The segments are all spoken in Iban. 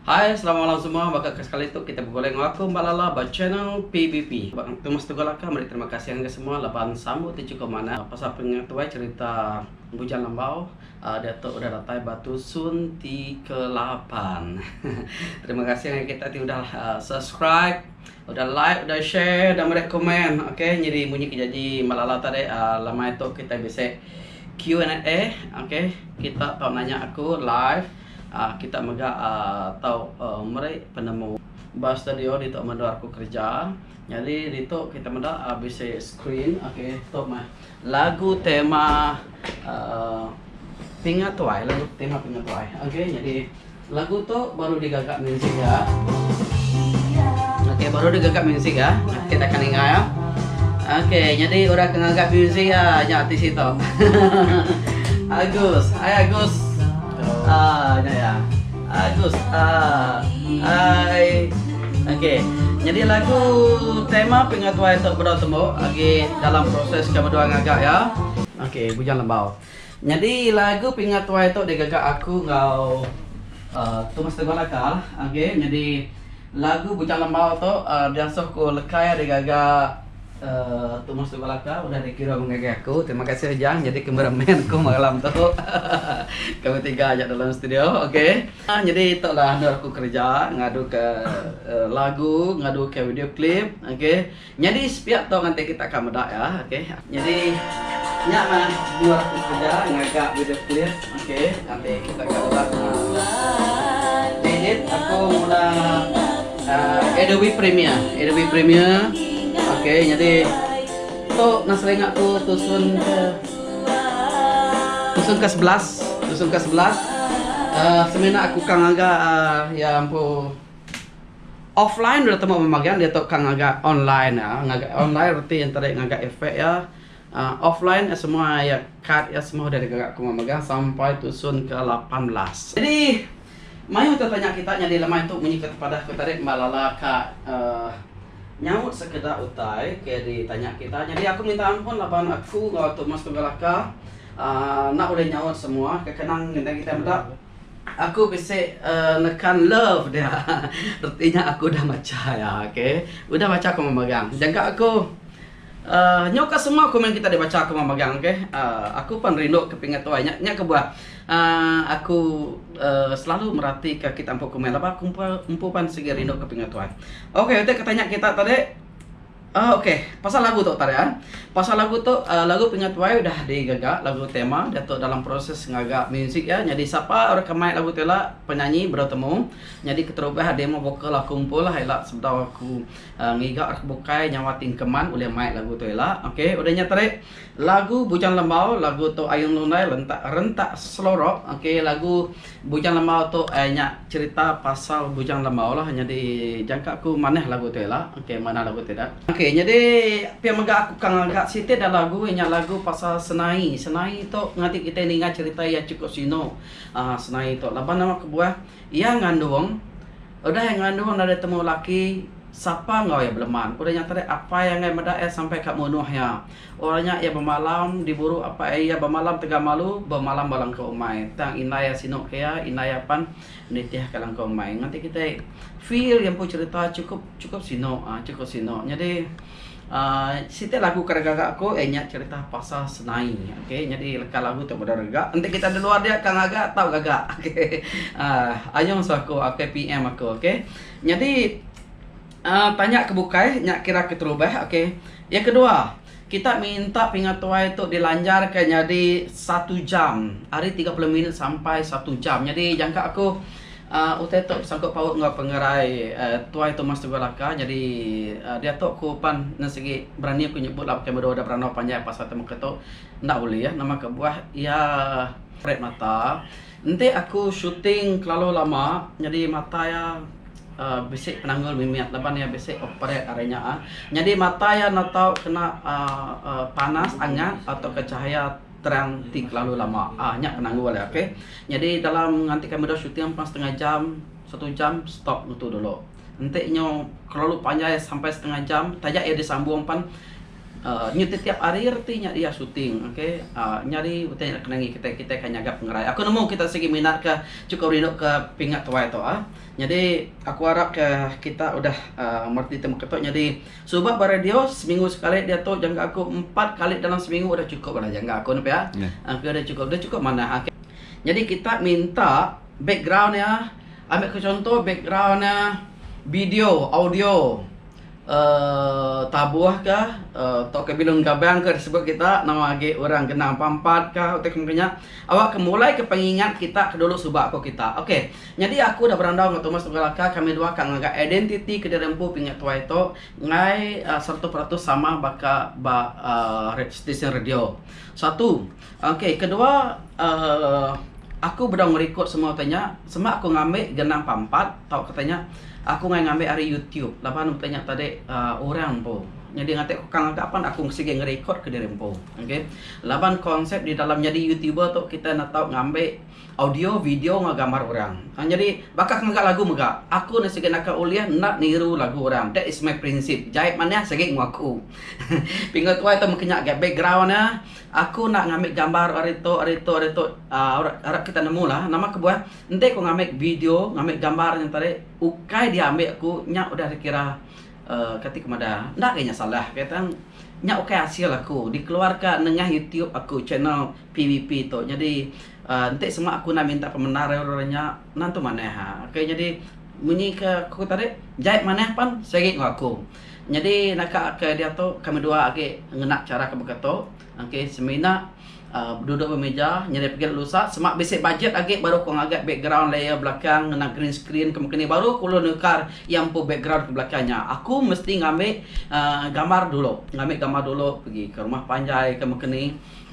Hai selamat malam semua baka ke sekali tu kita begulai enggau aku Mbak Lala ba channel PBP. Ba temu setunggal aka meri terima kasih ngagai semua laban sambut ti chukup manah pasal penga tuai cerita Bujang Lembau uh, diatu udah datai ba tusun ti ke lapan. terima kasih ngagai kita ti udah uh, subscribe, udah like, udah share, udah meri komen. Okey, nyeri munyi ke janji Mbak Lala tadi uh, lamai tu kita bisik Q&A. Okey, kita tau nanya aku live. Kita mega tau meri penemu. Ba studio ditu meda aku kerja. Nyadi ditu kita meda bisi screen. Okay tu meh lagu tema pinga tuai. Lagu tema pinga tuai. Okay nyadi lagu tu baru digaga muzik dia. Okay baru digaga muzik dia. Kita akan ninga ya. Okay nyadi orang ke ngaga muzik nya ti situ. Agus. Hai Agus. Aaa nya iya. Agus aaa ai. Okey. Nyadi lagu tema pinga tuai tu bedau tembu agi dalam proses ke bedua ngaga iya. Okey Bujang Lembau. Nyadi lagu pinga tuai tu digaga aku enggau aaa Thomas Teguh Laka. Okey nyadi lagu Bujang Lembau tu aaa diasuh ku Lekai digaga. Tumas tu belaka udah di kira mengagai aku. Terima kasih Ujang jadi camera man aku malam tu. Kami tiga aja dalam studio. Okey. Ah, jadi itulah anu aku kerja ngadu ke uh, lagu, ngadu ke video clip. Okey. Jadi sepiak tu nanti kita akan meda ya. Okey. Jadi nya mah dua aku kerja ngaga video clip. Okey ambil setakat orang uh, edit aku guna uh, Adobe Premiere. Adobe Premiere. Okey jadi tu nang selengak tu tusun ke tusun ke 11, tusun ke 11. Uh, semina aku kang aga uh, ya ampu offline dia temu memagang dia tu kang aga online ya. Ngaga online reti antara ngaga efek ya. Offline semua iya kad iya semua udah digaga kuma mega sampai tusun ke lapan belas. Jadi mayuh tau tanya kita nyadi lemai tu munyi ke tepadah ku tadi mba lala ka nyaut sekeda utai ke ditanya kita nyadi aku minta ampun laban aku enggau Tok Mus Tunggal Aka enda ulih nyaut semua ke kenang ngena kita meda aku bisi nekan love dia reti nya aku udah macha iya okay udah macha kuma mega jaga aku. Nyau ka semua komen kita dibacha kuma megang ok aku pan rindu ke pinga tuai nya nya kebuah aku selalu merati ka kita empu komen laban aku empu pan sigi rindu ke pinga tuai ok utai ke tanya kita tadi ok pasal lagu tu tadi pasal lagu tu lagu pinga tuai udah di gaga lagu tema diatu dalam proses ngaga music iya nyadi sapa orang ke main lagu tu ila penyanyi bro temu nyadi keterubah demo vocal aku empu lah ila sebedau aku. Ngiga rak bukai nyawa ti engkeman ulih mai lagu tu ila. Ok udah nya tadi lagu Bujang Lembau lagu tu Ayung Lundai lentak rentak selorok ok lagu Bujang Lembau tu ai nya cerita pasal Bujang Lembau lah nyadi jangka aku manah lagu tu ila ok manah lagu tu ida. Ok nyadi pia mega aku ka ngaga siti da lagu ai nya lagu pasal senai. Senai tu ngatik kitai ninga cerita iya chukup sinu aaa senai tu laban nama kebuah Iya ngandung, udah iya ngandung enda deh temu laki, sapa enggau iya beleman. Ku deh nya tadi apai angai meda iya sampai ka munuh iya. Orang nya iya bemalam di buru apai iya bemalam tegal malu bemalam ba langkau umai tang indai iya sinu ka iya, indai iya pan nitih ka langkau umai. Nganti kitai feel iya empu cerita chukup chukup sinu aaa chukup sinu. Nyadi. Uh, siti lagu kada gaga aku eh nya cerita pasal senai. Okey, jadi leka lagu tu meda rega. Enti kita di luar dia kang gaga tau gaga. Okey. Uh, ayung so aku, okey PM aku, okey. Jadi uh, tanya ke bukai nya kira keterubah, okey. Yang kedua, kita minta pengatuai tu dilanjarka nyadi satu jam. Hari 30 minit sampai satu jam. Jadi jangka aku Utai tu besangkut paut enggau pengerai Tuai Thomas Tunggal Laka nyadi diatu ku pan nan sigi berani ku nyebut laban kimet dua udah berandau panjai pasal temuka tu enda ulih nama kebuah iya red mata enti aku shooting kelalu lama nyadi mata iya bisi penanggul mimit laban iya bisi operate ari nya nyadi mata iya enda tau kena panas angat atau chahaya. Terang ti kelalu lama. Ah nya penanggul dia ok. Nyadi dalam ngantikan meda shooting ampang setengah jam, satu jam stop nutu dulu. Enti nyu kelalu panjai sampai setengah jam taja iya disambung pan uhh nyu tetiap hari reti nya iya shooting ok. Uhh nyadi utai nya kena ngi kitai, kitai akan nyaga pengerai. Aku nemu kita sigi minat ka chukup rindu ka pinga tuai tu ah. Nyadi aku arap ka kita udah uhh merdeti temekatu nyadi Suba ba radio seminggu sekali diatu jangka aku empat kali dalam seminggu udah cukup udah jangka aku ne pia. Aku udah cukup udah cukup manah ake. Jadi kita minta background iya ambil ke contoh background iya video audio uhh tabuh ka tauka bilun gabang ka disebut kita nama agi orang genang pampat ka utai ke mung ke nya awak ke mulai ke pengingat kita ke dulu suba ko kita. Okay. Nyadi aku udah berandau enggau Thomas Tunggal Aka, kami dua ka ngaga identiti ke diri empu pinga tuai tu enggai seratus peratus sama baka ba stesen radio. Satu, okey kedua aku bedau ngerekod semua utai nya sema aku ngambi genang pampat tau kata nya aku enggai ngambi ari youtube laban utai nya tadi orang empu nyadi ngatik aku ka ngaga pan aku sigi ngerekod ke diri empu. Okey laban konsep di dalam nyadi youtuber tu kita enda tau ngambi Audio, video enggau gambar orang. Nyadi, baka ke mega lagu mega, aku ne sigi naka ulih enda niru lagu orang. That is my prinsip. Jai manah sigi enggau aku. Pinga tuai tu meka nya ga background ne. Aku enda ngambi gambar ari tu ari tu ari tu uhh arap kita nemu lah. Nama kebuah, enti ku ngambi video, ngambi gambar nya tadi ukai diambi aku nya udah dikira uhh kati ku madah. Enda lagi nya salah. Nya ukai asil aku dikeluarka nengah youtube aku channel. PVP tu nyadi enti sema aku enda minta pemendar ari orang nya nan tu manah ok nyadi munyi ke aku tadi jai manah pan sigi enggau aku nyadi naka ke diatu kami dua agi ngena chara ke baka tu ok semina duduk ba mija nyadi pagi lalu usa sema bisi bajet agi baru aku ngaga background layer belakang ngena green screen ke mungkin baru aku lalu nukar iya empu background ke belakang nya aku mesti ngambi uhh gambar dulu ngambi gambar dulu pagi ke rumah panjai ke mungkin ni.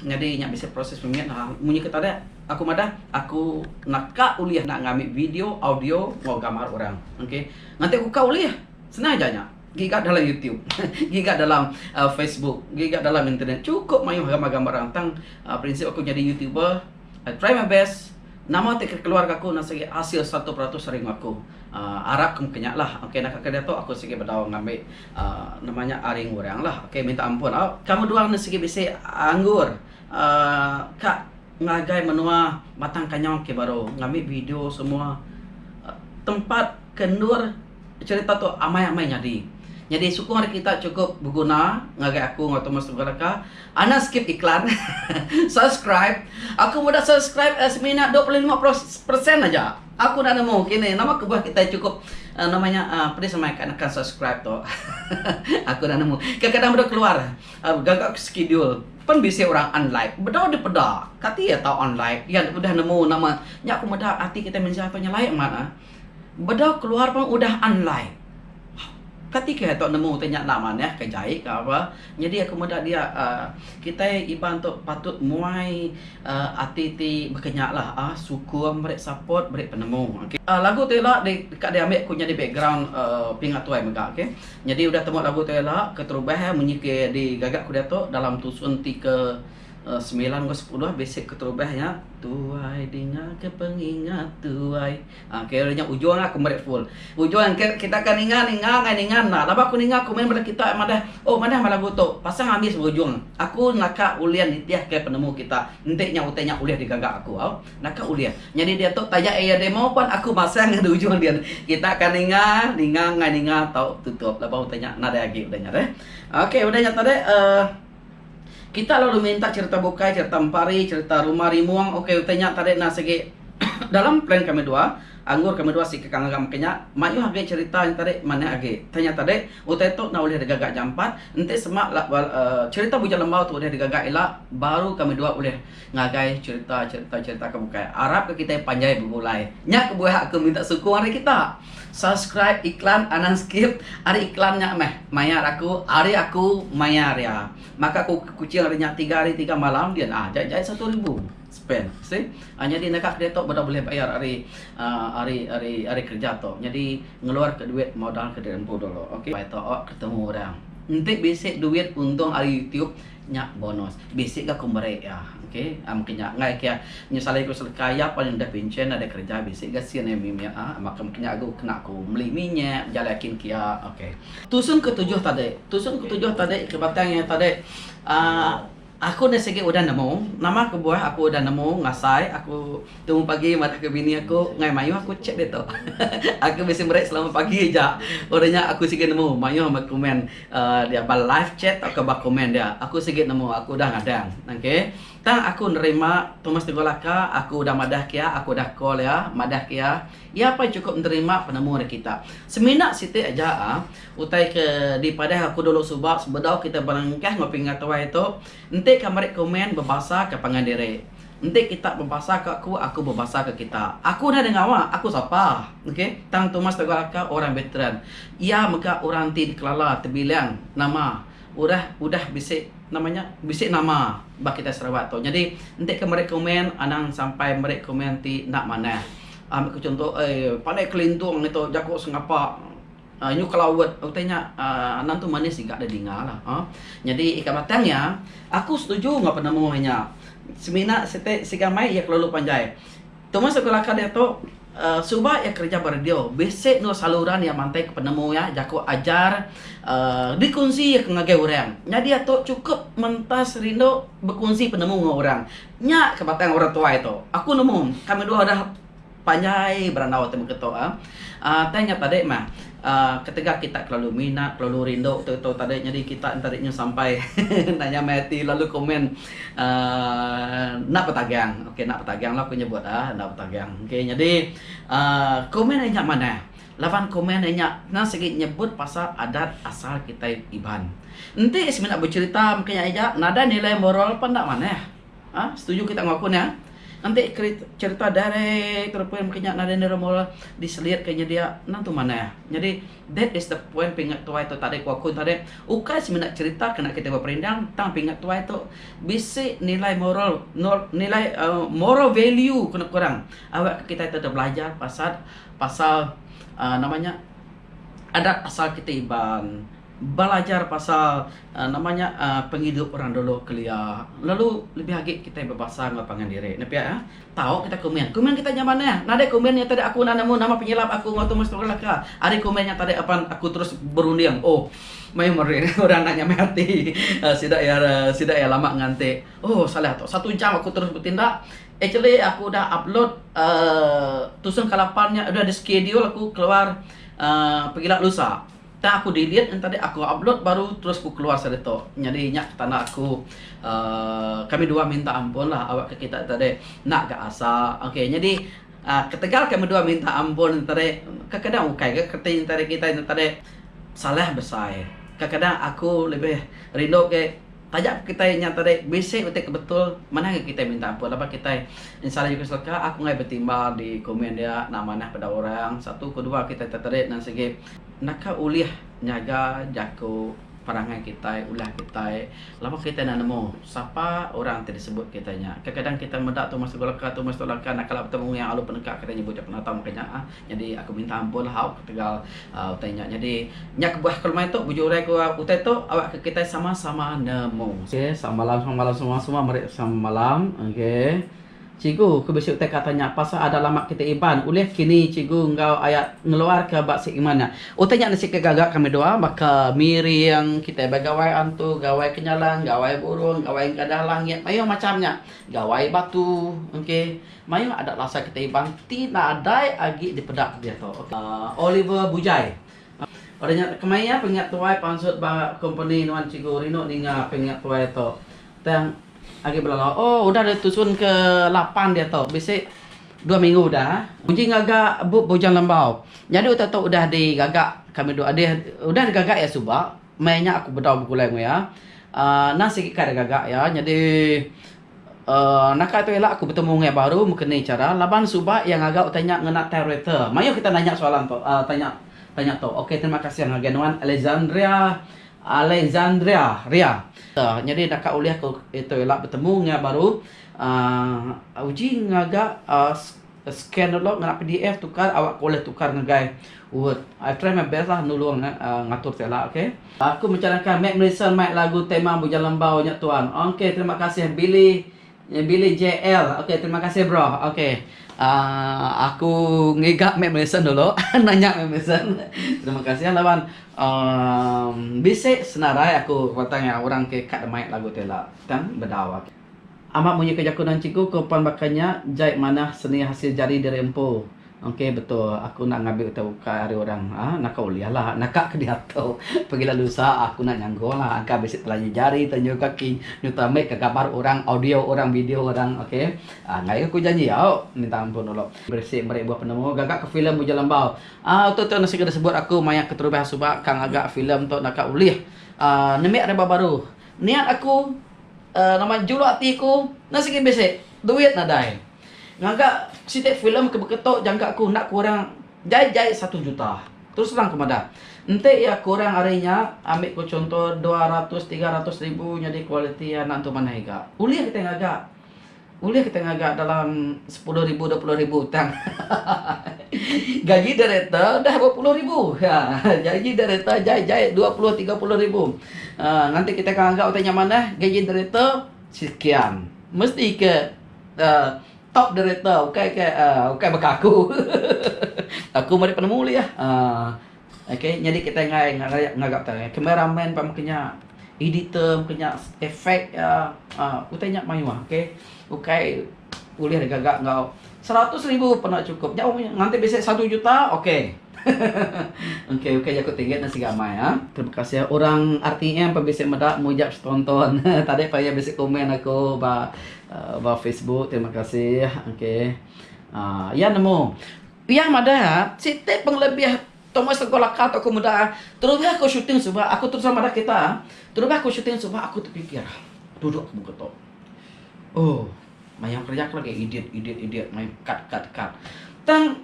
Nyadi nya bisi proses mimit ha. Munyi kita dek, aku madah aku enda ka ulih enda ngambi video, audio enggau gambar orang. Okay. Nganti aku ka ulih. Senang aja nya. Giga dalam YouTube. Giga dalam Facebook. Giga dalam internet. Chukup mayuh gambar-gambar orang. Tang prinsip aku nyadi YouTuber, I try my best. Nama ti ke keluar ga aku enda sigi hasil satu peratus ari enggau aku. Arap ke mungkin nya lah. Okay naka ke diatu aku sigi bedau ngambi Nama nya aring orang lah. Okay minta ampun. Au kamu duang ne sigi bisi anggur uhh ka ngagai menua batang kanyong ke baru ngambi video semua tempat ke endur cerita tu amai amai nyadi. Nyadi sukung ari kita cukup beguna ngagai aku enggau Thomas tebuk leka. Anak skip iklan subscribe aku meda subscribe semina dua puluh lima persen aja. Aku dah nemu kini nama kebuah kitai chukup nama nya pedis amai ka nekan subscribe tu aku dah nemu kadang-kadang bedau keluar gaga ke schedule pen bisi orang unlike bedau dipeda kati iya tau unlike iya udah nemu nama nya aku meda ati kitai mensia tu nyelai amat ah bedau keluar pun udah unlike. Kati kitai tu nemu utai nya enda manah ka jai ka ba. Nyadi aku meda dia uhh kitai Iban tu patut muai uhh ati ti baka nya lah uhh sukung meri support meri penemu okay. Uhh lagu tu ila deka diambi aku nyadi background uhh pinga tuai mega okay. Nyadi udah temu lagu tu ila keterubah munyi ke digaga aku diatu dalam tusun ti ke semilan enggau sepuluh basic keterubah nya. Tuai dinga ke pengingat tuai. Ah kira nya ujung aku meri full. Ujung engke kita akan ninga ninga ngai ninga enda. Laban aku ninga komen bala kita madah oh madah meh lagu tu. Pasang abis berujung. Aku naka ulih nitih ke penemu kita. Enti nya utai nya ulih digaga aku au. Naka ulih. Nyadi diatu taja iya demo pun aku masang ngan ujung dia. Kita akan ninga ninga ngai ninga tau tutup laban utai nya nadai agi udah nya deh. Okey udah nya tadi uhh. Kita lalu minta cherita bukai, cherita empari, cherita rumah rimung. Ok utai nya tadi enda sigi dalam plan kami dua. Anggur kami dua sigi ka ngaga maka nya. Mayuh agi cherita nya tadi manah agi. Utai nya tadi, utai tu enda ulih digaga jampat. Enti sema uhh cherita Bujang Lembau tu ulih digaga ila baru kami dua ulih. Ngagai chereta chereta chereta ke bukai. Arap ke kitai panjai begulai. Nya ke buah aku minta sukung ari kita. Subscribe iklan anang skip ari iklan nya meh mayar aku ari aku mayar iya. Maka aku ke kuching hari nya tiga hari tiga malam din ah jai jai satu ribu spend see. Ah nyadi naka kreator beda bulih bayar ari ah ari ari ari kerja tu. Nyadi ngeluar ke duit modal ke diri empu dulu. Okey. Bai tu awak ketemu orang. Enti bisi duit untung ari youtube. Nya bonus. Bisi ga ku meri iya. Ok. Am ke nya enggai ke nyesali ku seleka iya pun deh pinchen nadai kereja bisi ga sin iya mimit iya. Am aka meh nya ku kena ku meli minyak bejalai aki engki iya. Ok. Tusun ke tujuh tadi. Tusun ke tujuh tadi ke batang iya tadi uhh aku enda sigi udah nemu nama kebuah aku udah nemu ngasai aku. Tung pagi madah ke bini aku, ngai maioh aku chat ditu. Aku bisi meri selamat pagi aja. Udah nya aku sigi nemu maioh meh komen dia ba live chat tauka ba komen dia. Aku sigi nemu aku udah ngadang. Okay. Tang aku nerima Thomas Teguh Laka aku udah madah ke iya, aku udah call iya madah ke iya. Iya pun chukup nerima penemu ari kita. Semina siti aja ah utai ke dipadah aku dulu suba sebedau kita berengkah ngopi enggau tuai tu enti ka meri komen bebasa ka pangan diri. Enti kita bebasa ka aku, aku bebasa ka kita. Aku udah denga awa, aku sapa? Okay. Tang Thomas Teguh Raka orang veteran. Iya mega orang ti dikelala tebilang nama udah udah bisi nama nya bisi nama ba kitai Sarawak tu. Nyadi enti ke meri komen anang sampai meri komen ti enda manah. Ambi ke chunto, Ei, pandai kelintung ngitu jaku sengapa. Nyu kala word utai nya anang tu manis iga da dinga la ha. Nyadi ika batang iya aku setuju enggau penemu inya. Semina siti siga mai iya kelalu panjai. Tumas aku laka diatu suba iya kerja ba radio bisi enggau saluran iya mantai ke penemu iya jaku ajar uhh dikunsi iya ke ngagai orang. Nya diatu chukup mentas rindu bekunsi penemu enggau orang. Nya ka batang orang tuai tu. Aku nemu kami dua udah Panjai berandau ti mega tu ah. Tang nya tadi mah ketegal kita kelalu minat kelalu rindu tu tu tadi nyadi kita enda rinyu sampai enda nya meh ati lalu komen aaa enda betagang okay enda betagang lah aku nyebut ah enda betagang okay nyadi aaa komen deh nya manah laban komen deh nya tang segi nyebut pasal adat asal kitai iban. Enti semina becerita mega nya nadai nilai moral pun enda manah. Ha? Setuju kita enggau aku nya? Enti cherita direct to the point maka nya Narendra Modi diselit ke nyedia endang tu manah. Nyadi that is the point pinga tuai tu tadi ku aku tadi ukai semina cherita kena kita beperindang tang pinga tuai tu bisi nilai moral nilai uh, moral value kena kurang awak ke kita tu belajar pasal pasal uh, nama nya adat asal kita Iban. Belajar pasal nama nya pengidup orang dulu kelia lalu lebih agi kitai bebasa enggau pangan diri ne pia tau kitai komen. Komen kitai nya manah nadai komen nya tadi aku enda nemu nama penyilap aku enggau Thomas Tubal Melaka ari komen nya tadi apan aku terus berunding oh mayuh meri orang enda nyamai ati sida iya sida iya lama nganti oh salah tu satu jam aku terus betindak actually aku dah upload uhh tusung kala pan nya udah di schedule aku keluar uhh pegila lusa. Tang aku delete ngan tadi aku upload baru terus ku keluar seri tu. Nyadi nya petanda aku uhh kami dua minta ampun lah awak ke kita tadi enda ga asa. Okay nyadi uhh ketegal kami dua minta ampun tadi kekadang ukai ga kereti tadi kita nya tadi salah besai. Kekadang aku lebih rindu ke taja pun kita nya tadi bisi utai ke betul manah ga kita minta ampun laban kita salah juku selaka aku angai betimba di komen dia enda manah peda orang satu kedua kita nya tadi nan sigi Naka ulih nyaga jaku perangai kitai, ulah kitai laban kitai enda nemu sapa orang ti disebut kitai nya. Kadang-kadang kitai meda tu meh satu leka tu meh satu leka naka lalu betemu ngeang alu peneka kitai nyebut jaku Natong ka nya. Nyadi aku minta ampun hau ketegal utai nya. Nyadi nya kebuah aku lemai tu bejurai ku utai tu awakka kitai sama-sama nemu. Okey samalam samalam semua-semua meri samalam okey. Cikgu, ku bisi utai ka tanya pasal adat lama kitai Iban, ulih kini cikgu enggau aya ngeluarka ba segmen nya. Utai nya nisi ke gaga kami dua baka miring kitai ba gawai antu, gawai kenyalang, gawai burung, gawai enggadah langit, mayuh macham nya. Gawai batu. Okey. Mayuh adat lasa kitai Iban ti nadai agi dipeda diatu. Oliver Bujai. Udah nya kemaya pengiat tuai pansut ba kompeni nuan cikgu rindu ninga pengiat tuai tu tang agi belalau oh udah deh tusun ke lapan diatu bisi dua minggu udah uji ngaga bup bujang lembau nyadi utai tu udah di gaga kami dua deh udah di gaga iya suba maya nya aku bedau begulai enggau iya aaa enda sigi kai deh gaga iya nyadi Uhh naka tu ila aku betemu ngai baru meken ni chara laban suba iya ngaga utai nya ngena tyreter. Mayuh kita nanya soalan tu uhh tanya tanya tu. Ok terima kasih ngagai nuan Alexandria Alexandria ria. Nyadi naka ulih aku itu ila betemu ngai baru uhh uji ngaga uhh. Scan download ngena pdf tukar awak ko leh tukar ngagai word I try my best lah nulung ngatur seh lah okay. Aku mechanaka Matt Merison mai lagu tema Bujang Lembau nya tuan. Okay terima kasih Billy Billy JL okay terima kasih bro okay uhh aku ngiga Matt Merison dulu nanya Matt Merison terima kasih laban uhh bisi senarai aku patang iya orang ke ka deh mai lagu tela tang bedau okay. Amat munyi ke jaku nan cikgu ko pan baka nya jai manah seni hasil jari diri empu ok betul aku enda ngambi utai ukai ari orang ah naka ulih la naka ke diatu pegila lusa aku enda nyanggung la angka bisi telanyi jari telanyi kaki nyuta mik ka gambar orang audio orang video orang ok ah ngai ke ku janji au minta ampun dulu bisi meri buah penemu gaga ke filem ujar lembau ah tu tu nasi ke disebut aku maya keterubah suba ka ngaga filem tu naka ulih ah nemik reba baru. Niat aku uhh nama juluk ati aku enda sigi bisi duit nadai. Ngaga siti filem ke beketo jangka aku enda kurang jai jai satu juta. Terus terang aku madah. Enti iya kurang ari nya ambi ku chunto dua ratus tiga ratus ribu nyadi kualiti iya enda entu manah iga. Ulih kitai ngaga Ulih kita ngaga dalam sepuluh ribu dua puluh ribu tang gaji direktor dah bepuluh ribu gaji direktor jai jai dua puluh tiga puluh ribu nganti kita akan ngaga utai nya manah gaji direktor sekian mesti ke top direktor ukai ke ukai baka aku aku meri penemu ulih Ok nyadi kitai enggai ngaraya ngaga tau camera man pun maka nya editor maka nya effect iya utai nya mayuh ok ukai ulih da gaga enggau seratus ribu pun enda chukup nya nganti bisi satu juta ok ok ukai jaku ti ngena siga amai a. Terima kasih orang RTM pun bisi meda mujak setonton tadi pun iya bisi komen aku ba ba facebook terima kasih ok iya nemu. Iya madah, Siti pengelebih Thomas sego laka tu aku meda terubah aku shooting suba aku terus madah kita terubah aku shooting suba aku tepikir duduk aku mega tu. Oh mayuh kerja aku lagi edit edit edit mayuh cut cut cut. Tang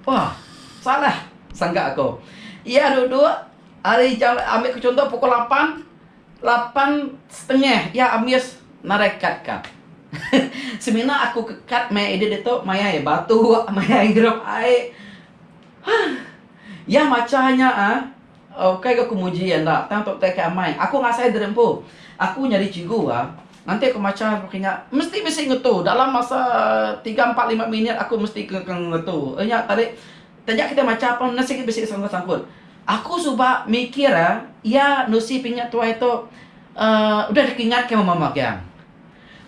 wah salah sangka aku. Iya duduk hari jam ambil ku chunto pukul lapan Lapan setengah iya ambis narai kad ka. Semina aku ke kad maya edit ditu mayai batu mayai ngirup ai. Huh. Iya macha nya uhh ukai ga ku muji iya enda tang tu utai ke amai. Aku ngasai diri empu. Aku nyadi cikgu ga nanti aku macha pekara nya mesti bisi ngetu dalam masa tiga empat lima minit aku mesti ke ngetu. Nya tadi. Taja kitai macha pang nuan sigi bisi sangkut-sangkut. Aku suba mikir iya nusi pinga tuai tu uhh udah dikingat ke mama Giang.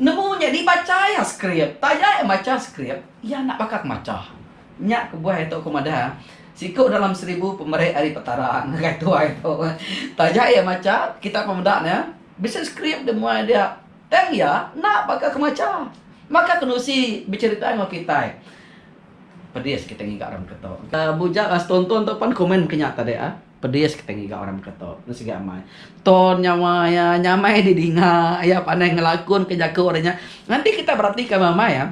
Nemu nya dibacha iya skrip. Taja iya macha skrip, iya enda baka ke macha. Nya kebuah iya tu aku madah siku dalam seribu pemeri ari Petara ngagai tuai tu. Taja iya macha, kitai pun meda ne, bisi skrip deh muai dia. Tang iya enda baka ke macha. Baka ke nusi becerita enggau kitai. Pedis kitai ngiga orang beketo. Bujak lah setonton tu pan komen mungkin nya tadi ah. Pedis kitai ngiga orang beketo. Nya sigi amai. Ton nyawa iya nyamai di dinga iya pandai ngelakun ke jaku orang nya. Nganti kitai berati ke amai ah.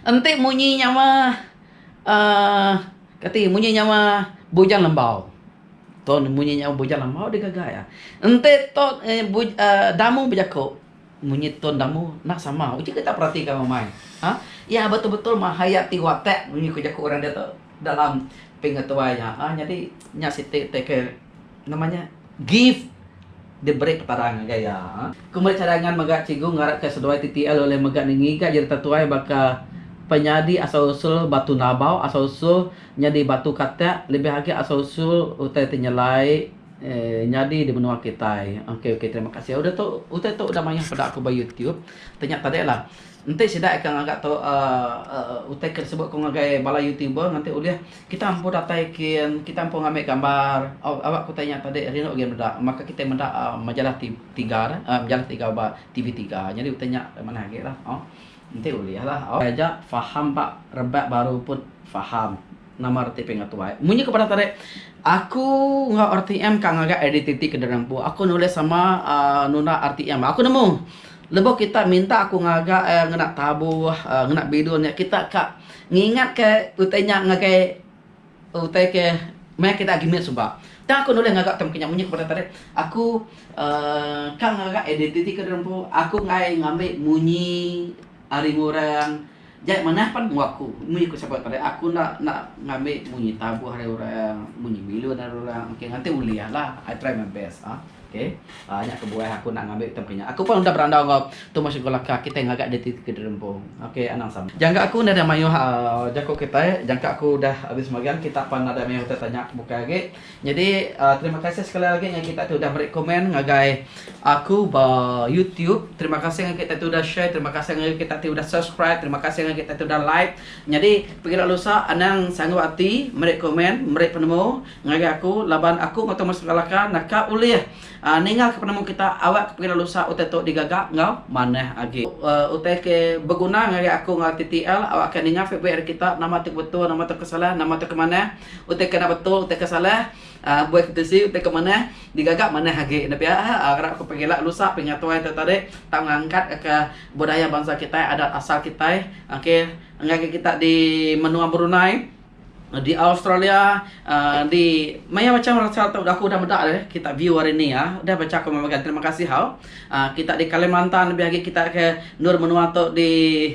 Enti munyi nyawa uhh kati munyi nyawa bujang lembau. Ton munyi nyawa bujang lembau digaga iya. Enti ton uhh damu bejaku. Munyi tone damu nah sama uji kita perati ka umai ha iya betul betul mahayati watak munyi ku jaku orang dia tu dalam pengetuai iya ha nyadi nya siti te ke nama nya gift diberi petara ngagai iya ha. Ku meri cadangan mega cikgu ngarap ka seduai TTL ulih mega ni ngiga jadi tetuai baka penyadi asal usul batu nabau asal usul nyadi batu katak lebih agi asal usul utai te nyelai Nyadi di menua kitai. Okay okay terima kasih udah tu utai tu udah mayah peda aku ba YouTube tapi nya tadi lah enti sida ika ngaga tu uhh utai ke sebut ku ngagai bala YouTuber nganti ulih kita empu datai kin kita empu ngambi gambar awak utai nya tadi rindu gin meda maka kita meda majalah tiga dah majalah tiga ba TV tiga jadi utai nya manah agi lah enti ulih lah. Taja faham ba rebak baru pun faham. Nama reti pinga tuai? Munyi ke padah tadi, aku enggau RTM ka ngagai identiti ke diri empu. Aku nulis sama uhh nunda RTM. Aku nemu lebuh kita minta aku ngagai uhh ngena tabuh, uhh ngena bidun nya kita ka ngingat ke utai nya ngagai utai ke meh kita agi mit suba. Tang aku nulis ngaga term ke nya munyi ke padah tadi, aku uhh ka ngagai identiti ke diri empu. Aku enggai ngambi munyi ari orang. Jai manah pan enggau aku. Munyi ku sapa tadi aku enda enda ngambi munyi tabuh ari orang, munyi bilun ari orang. Okey nganti ulih lah. I try my best ah. Okey. Uh, nya kebuah aku nak ngambi tem kinya. Aku pun udah berandau enggau tumosh enggau laka kitai ngaga di ti ke derempung. Okey anang sama. Jangka aku enda ada mayuh uh, jaku kitai, jangka aku udah habis magang kita pan nadai mayuh utai tanya bukai agi. Nyadi terima kasih sekali agi ngagai kita ti udah meri komen ngagai aku ba YouTube. Terima kasih ngagai kita ti udah share, terima kasih ngagai kita ti udah subscribe, terima kasih ngagai kita ti udah like. Nyadi pengila lusa anang sanggup ati meri komen, meri penemu ngagai aku laban aku enggau Thomas Laka naka ulih Ninga ke penemu kita awak ke pengidup lusa utai tu digaga enggau manah agi. Utai ke beguna ngagai aku enggau TTL awak ke ninga feedback ari kita nama tu ke betul nama tu ke salah nama tu ke manah utai ke enda betul utai ke salah buai ke tisi utai ke manah digaga manah agi enda pia arap ke pengila lusa pengila tuai tu tadi tau ngangkat ka budaya bansa kitai adat asal kitai okay ngagai kita di menua Brunei. Di Australia di maya macam rasa tu aku udah meda deh kita view hari ni ya. Udah baca komen bagi terima kasih hau. Kita di Kalimantan lebih agi kita ke endur menua tu di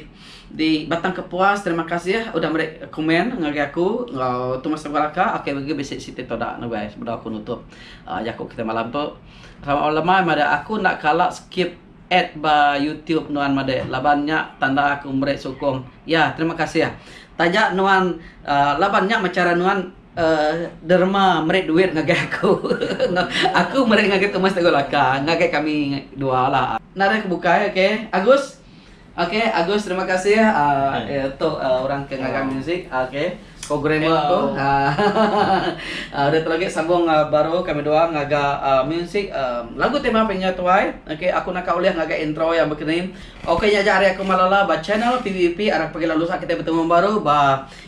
di Batang Kepuas terima kasih udah meri komen ngagai aku enggau Tumas Sagu Alaka. Okey mega bisi siti tu da lagu ai sebedau aku nutup jaku kita malam tu. Selamat malam lemai meda aku enda kala skip. Add ba youtube nuan madah laban nya tanda aku meri sukung ya terima kasih taja nuan laban nya meh chara nuan derma meri duit ngagai aku aku meri ngagai tu mas teguh laka ngagai kami dua la narih ke bukai ok Agus Ok Agus terima kasih tu orang ke ngaga music ok programmer tu udah tu lagi sambung baru kami dua ngaga music lagu ti mah pinya tuai ok aku naka ulih ngaga intro iya begini ok nya aja ari aku Malala ba channel PVP arap agi lalu usa kita betemu baru ba.